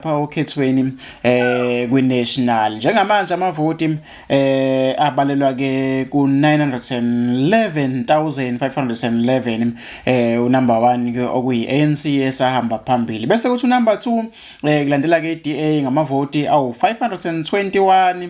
pha okhethweni eh kwiNational njengamanje amavoti eh abalelwa ke ku 911511 eh unumber 1 ke okuyi ANC esahamba phambili bese kuthi unumber 2 eh kulandela ke iDA ngamavoti awu 521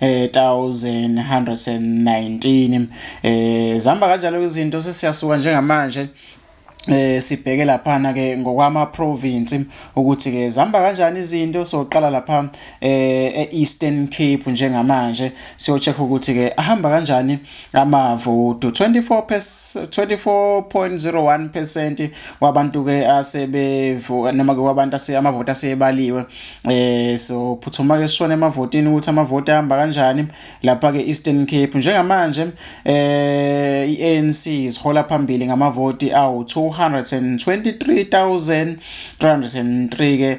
1119 eh zihamba kanjalo izinto sesiyasuka njengamanje eh sibheke lapha na ke ngokwama province ukuthi ke zihamba kanjani izinto soqala lapha eh eEastern Cape njengamanje siyocheck ukuthi ke ahamba kanjani amavoti 24.01 percent wabantu ke asebevu noma ke wabantu ase amavoti asebaliwe eh so phuthuma ke sishone emavotini ukuthi amavoti ahamba kanjani lapha ke Eastern Cape njengamanje eh iANC isihola phambili ngamavoti awu 223303 ke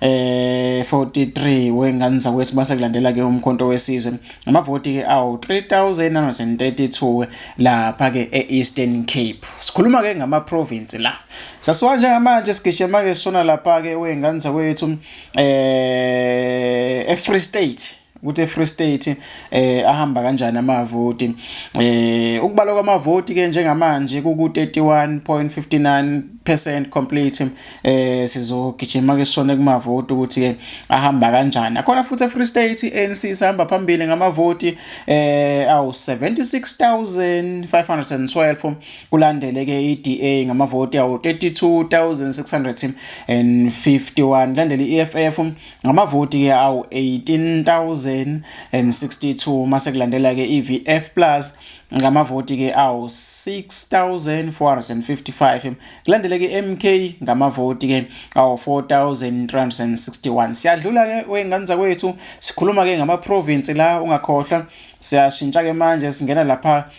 eh 43 wengane zakwethu base kulandela ke umkhonto wesizwe amavoti ke awu 3932 lapha ke eEastern Cape sikhuluma ke ngama province la sasiwa njengamanje sigijima ke sona lapha ke wengane zakwethu eh eFree State ukuthi eFree State eh ahamba kanjani amavoti eh ukubala kwamavoti ke njengamanje ku 31.59% complete eh sizogijima ke sona kumavoti ukuthi ke ahamba kanjani akhona futhi eFree State ANC sihamba phambili ngamavoti eh awu 76512 kulandele ke iDA ngamavoti awu 32651 landele iEFF ngamavoti ke awu 18062 mase kulandela ke iVF Plus ngamavoti ke awu 6455 kulandele ke MK ngamavoti ke awu 4361 siyadlula ke wengane zakwethu sikhuluma ke ngama province la ungakhohlwa siyashintsha ke manje singena lapha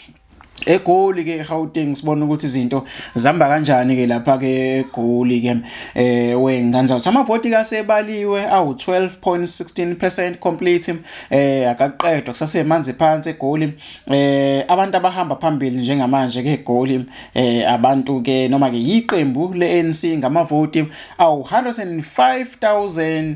egoli ke eGauteng sibona ukuthi izinto zihamba kanjani ke lapha ke egoli ke eh wengane uthi amavoti kasebaliwe awu 12.16% complete eh akaqedwa kusasemanzi phansi egoli eh abantu abahamba phambili njengamanje ke egoli eh abantu ke noma ke yiqembu leANC ngamavoti awu 105000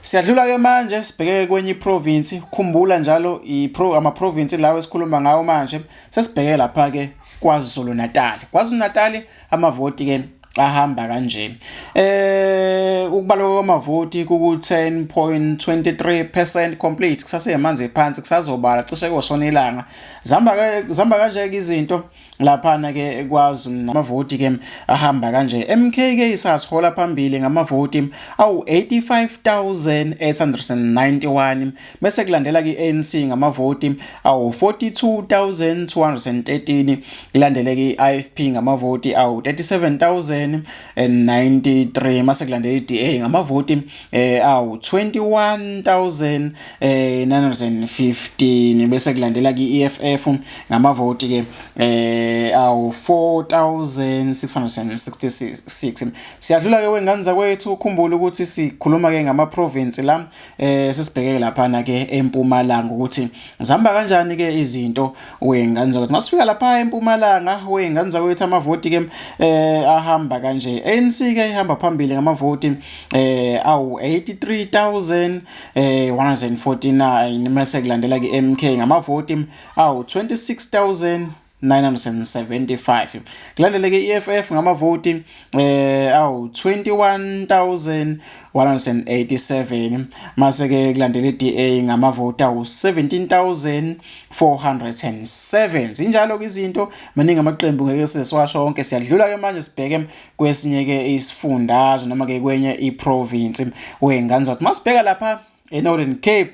Siyadlula ke manje sibheke kwenye iprovince khumbula njalo ipro ama province lawo esikhuluma ngawo manje sesibheke lapha ke KwaZulu Natal KwaZulu Natal amavoti ke ahamba kanje eh ukubalwa kwamavoti ku 10.23% complete kusase yamanzi phansi kusazobala cishe koshona ilanga zamba zamba kanje izinto laphana ke ekwazi namavoti ke ahamba kanje MK ke isasihola phambili ngamavoti awu 85891 bese kulandela ke ANC ngamavoti awu 42213 kulandele ke IFP ngamavoti awu 37000 93 mase kulandela iDA ngamavoti eh awu 21915 eh, bese kulandela iEFF ngamavoti ke eh awu 4666 siyadlula ke wengane zakwethu ukhumbula ukuthi sikhuluma ke ngama province la eh sesibheke lapha na ke empumalanga ukuthi zihamba kanjani ke izinto wengane zakwethu masifika lapha empumalanga wengane zakwethu amavoti ke eh ahamba kanje ANC ke ihamba phambili ngamavoti eh awu 83149 eh 149 mase kulandela ke MK ngamavoti awu 26000 975 kulandeleke i-EFF ngamavoti eh awu 21187 mase ke kulandela iDA ngamavoti awu 17407 zinjalo ke izinto maningi amaqembu ngeke sesiwasho wonke siyadlula ke manje sibheke kwesinye ke isifundazwe noma ke kwenye iprovince wengane zathi masibheka lapha eNorthern Cape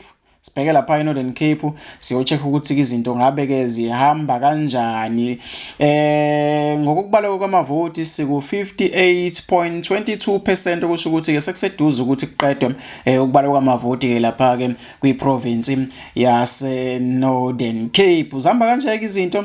sibheke lapha eNorthern Cape siyocheck ukuthi izinto ngabe ke zihamba kanjani eh ngokubaleka kwamavoti siku 58.22% okusho ukuthi ke sekuseduze ukuthi kuqedwe eh, ukubaleka kwamavoti ke lapha ke kwiprovince yase Northern Cape zihamba kanjeke izinto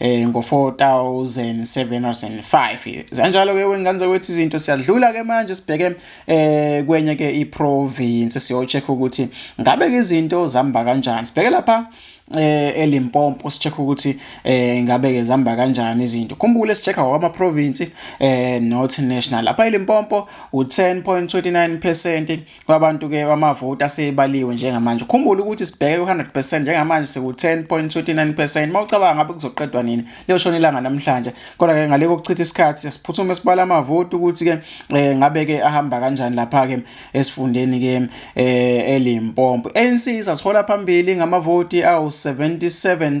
eh ngo-4705 zanjalo ke wengane zakwethu izinto siyadlula ke manje sibheke eh kwenye ke iprovince siyocheck ukuthi ngabe ke izinto zihamba kanjani sibheke lapha eh elimpompo sicheck ukuthi eh ngabe ke zihamba kanjani izinto khumbule sicheck awama province eh not national lapha elimpompo u10.29% kwabantu ke kwamavoti asebaliwe njengamanje ukhumbule ukuthi sibheke ku-100% njengamanje siku-10.29% uma ucabanga ngabe kuzoqedwa nini liyoshona ilanga namhlanje kodwa-ke ngale kokuchitha isikhathi siyasiphuthume sibala amavoti ukuthi-ke um eh, ngabe-ke ahamba kanjani lapha-ke esifundeni-ke um elimpompo anc sasihola phambili ngamavoti awu-77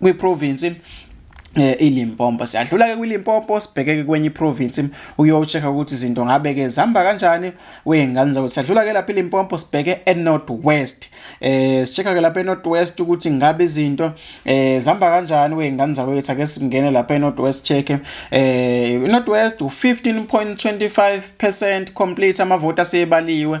kwiprovinsi eh iLimpopo siyadlula ke kwiLimpopo sibhekeke kwenye iprovince uyocheck ukuthi izinto ngabe ke zihamba kanjani wengane zawo siyadlula ke lapha iLimpopo sibheke eNorth West eh sichecka ke lapha eNorth West ukuthi ngabe izinto eh zihamba kanjani wengane zawo yethu ake singene lapha eNorth West check eh iNorth West u15.25% complete amavoti asebaliwe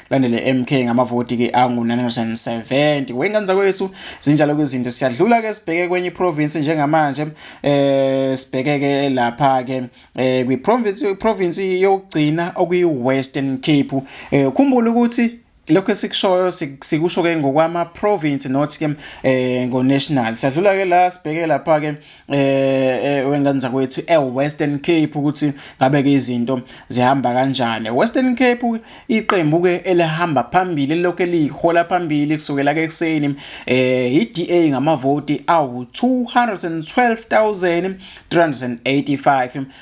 landele MK ngamavoti ke angu 970 wengane zakwethu zinjalo ke izinto siyadlula ke sibheke kwenye province njengamanje eh sibheke ke lapha ke eh kwi province province yokugcina okuyi Western Cape eh ukhumbula ukuthi lokho esikushoyo sikusho ke ngokwama province not ke eh ngo national siyadlula ke la sibheke lapha ke eh, eh wengane zakwethu eWestern Cape ukuthi ngabe ke izinto zihamba kanjani Western Cape iqembu ke elihamba phambili lokho elihola phambili kusukela ke ekseni eh iDA ngamavoti awu 212385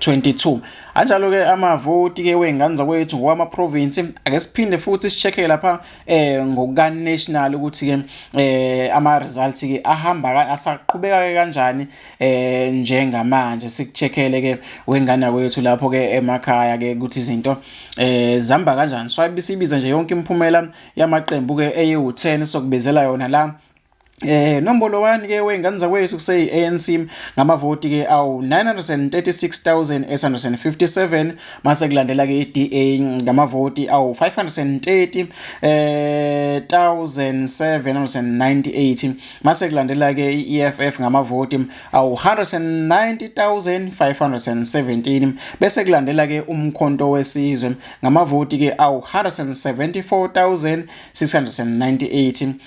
22 anjalo ke amavoti ke wengane zakwethu ngokwama province ake siphinde futhi sicheke lapha eh ngokuka national ukuthi ke eh ama results ke ahamba asaqhubeka ke kanjani eh njengamanje sikuchekele ke wengane kwethu lapho ke emakhaya ke ukuthi izinto eh zihamba kanjani so ayibisibiza nje yonke imiphumela yamaqembu ke eyi u10 sokubezela yona la Eh nombolo wani ke wengane zakwethu kuseyi ANC ngamavoti ke awu 936857 mase kulandela ke iDA ngamavoti awu 530 eh 1798 mase kulandela ke iEFF ngamavoti awu 190517 bese kulandela ke umkhonto wesizwe ngamavoti ke awu 174698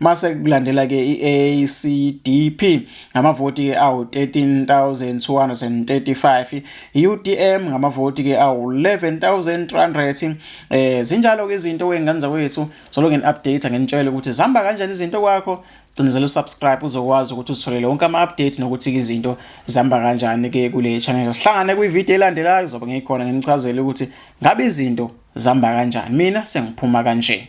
mase kulandela ke iACDP ngamavoti ke awu 13235 iUTM ngamavoti ke awu 11300 eh zinjalo ke izinto wengane zakwethu solo ngen update ngenitshela ukuthi zihamba kanjani izinto kwakho cinezela usubscribe uzokwazi ukuthi uzitholele wonke ama-update nokuthi-ke izinto zihamba kanjani-ke kule channel sihlangane kwividiyo elandelayo zobe ngikhona nginichazele ukuthi ngabe izinto zihamba kanjani mina sengiphuma kanje